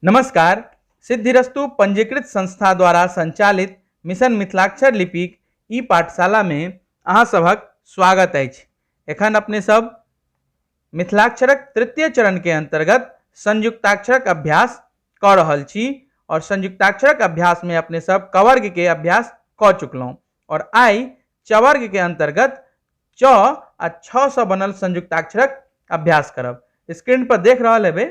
नमस्कार सिद्धिरस्तु पंजीकृत संस्था द्वारा संचालित मिशन मिथिलाक्षर लिपिक ई पाठशालामे अहाँ सभक स्वागत अछि एखन अपने सब मिथिलाक्षरक तृतीय चरणके अन्तर्गत संयुक्ताक्षरक अभ्यास कऽ रहल छी आओर संयुक्ताक्षरक अभ्यासमे अपने सब कवर्गके अभ्यास कऽ चुकलहुँ आओर आइ चवर्ग के अंतर्गत च आ छ से बनल संयुक्ताक्षरक अभ्यास करब स्क्रीन पर देख रहा हेबे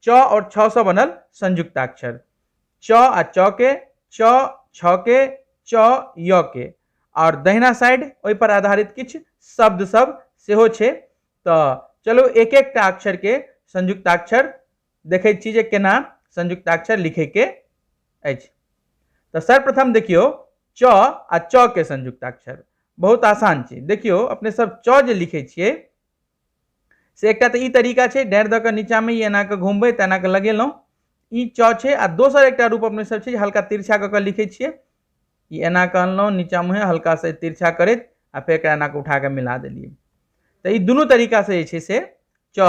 च और छ से बनल संयुक्ताक्षर च आ च के च छ के च य के और दहिना साइड ओहि पर आधारित किछ शब्द सब सेहो छे तो चलो एक एक अक्षर के संयुक्ताक्षर देखै छी जे केना संयुक्ताक्षर लिखैके अछि तऽ सर्वप्रथम देखियौ च आ च के संयुक्ताक्षर बहुत आसान छै देखियौ अपने सब च जे लिखै छियै से एकटा तऽ ई तरीका छै डाँड़ि दऽ कऽ नीचाँमे ई एना कऽ घुमबै तऽ एना कऽ लगेलहुँ ई च छै आ दोसर एकटा रूप अपने सब छै जे हल्का तिरछा कऽ कऽ लिखै छियै ई एना कऽ अनलहुँ नीचाँ मुँहे हल्का से तिरछा करैत आ फेर एकरा एना कऽ उठा कऽ मिला देलियै तऽ ई दुनू तरीकासँ जे छै से च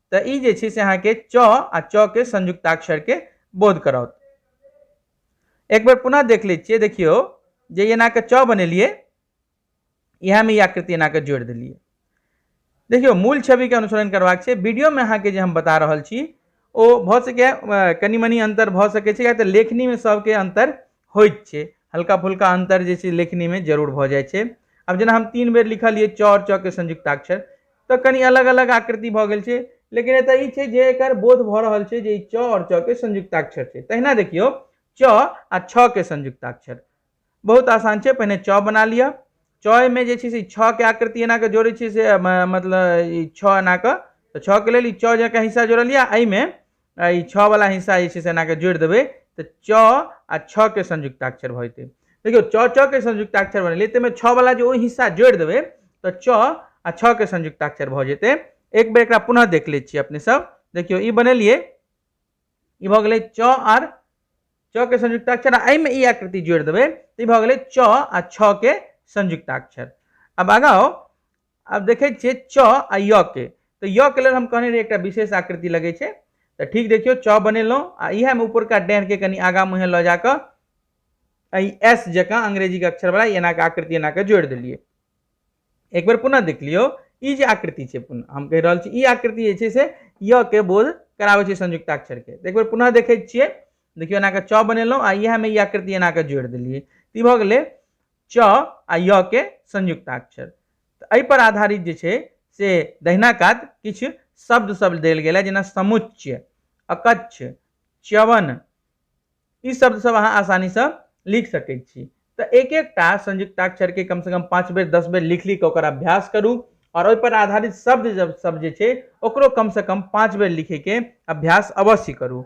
तऽ ई जे छै से अहाँके च आ च के संयुक्ताक्षर के बोध कराओत एक बेर पुनः देख लै छियै देखियौ जे एना के च बनेलियै इएह में ई आकृति एना के जोड़ि देलियै देखियौ मूल छवि के अनुसरण करबाक छै वीडियो में अहाँके जे हम बता रहल छी ओ भऽ सकैए कनि मनि अन्तर भऽ सकैत छै या तऽ लेखनीमे सभके अन्तर होइत छै हल्का फुल्का अन्तर जे छै लेखनीमे जरूर भऽ जाइ छै आब जेना हम तीन बेर लिखलियै चौर चौके संयुक्ताक्षर तऽ कनि अलग अलग आकृति भऽ गेल छै लेकिन एतऽ ई छै जे एकर बोध भऽ रहल छै जे ई च आओर च के संयुक्ताक्षर छै तहिना देखियौ च आ छ के संयुक्ताक्षर बहुत आसान छै पहिने च बना लिअ चमे जे छै से छ के आकृति एना कऽ जोड़ै छियै से मतलब ई छ एना कऽ तऽ छके लेल ई च जकाँ हिस्सा जोड़लियै एहिमे आ ई छः वाला हिस्सा जे छै से एनाके जोड़ि देबै तऽ च आ छः के संयुक्ताक्षर भऽ जेतै देखियौ च च के संयुक्ताक्षर बनेलियै ताहिमे छः वाला जे ओहि हिस्सा जोड़ि देबै तऽ च आ छः के संयुक्ताक्षर भऽ जेतै एक बेर एकरा पुनः देख लै छियै अपने सब देखियौ ई बनेलियै ई भऽ गेलै च आर च के संयुक्ताक्षर आ एहिमे ई आकृति जोड़ि देबै तऽ ई भऽ गेलै च आ छः के संयुक्ताक्षर अब आगाँ आउ आब देखै छियै च आ य के तऽ य के लेल हम कहने रही एकटा विशेष आकृति लगै छै तऽ ठीक देखियौ च बनेलहुँ आ इएहमे ऊपरका के कनि आगाँ मुँहे लऽ जा कऽ एहि एस जकाँ अंग्रेजीके अक्षरवला एनाके आकृति एनाके जोड़ि देलियै एक बेर पुनः देख लियौ ई जे आकृति छै पुनः हम कहि रहल छी ई आकृति जे छै से य के बोध कराबै छै संयुक्ताक्षरके एक बेर पुनः देखै छियै देखियौ एनाके च बनेलहुँ आ इएहमे ई आकृति एनाके जोड़ि देलियै तऽ ई भऽ गेलै च आ य के संयुक्ताक्षर तऽ एहि पर आधारित जे छै से दहिना कात किछु शब्द सब देल गेल है जेना समुच्च अकच्छ च्यवन ई शब्द सब अहाँ आसानी से लिख सकै छी तऽ एक एकटा संयुक्ताक्षर के कम से कम पाँच बेर दस बेर लिख लिख ओकर अभ्यास करू और ओहि पर आधारित शब्द जब सब जे छै ओकरो कम से कम पाँच बेर लिखे के अभ्यास अवश्य करू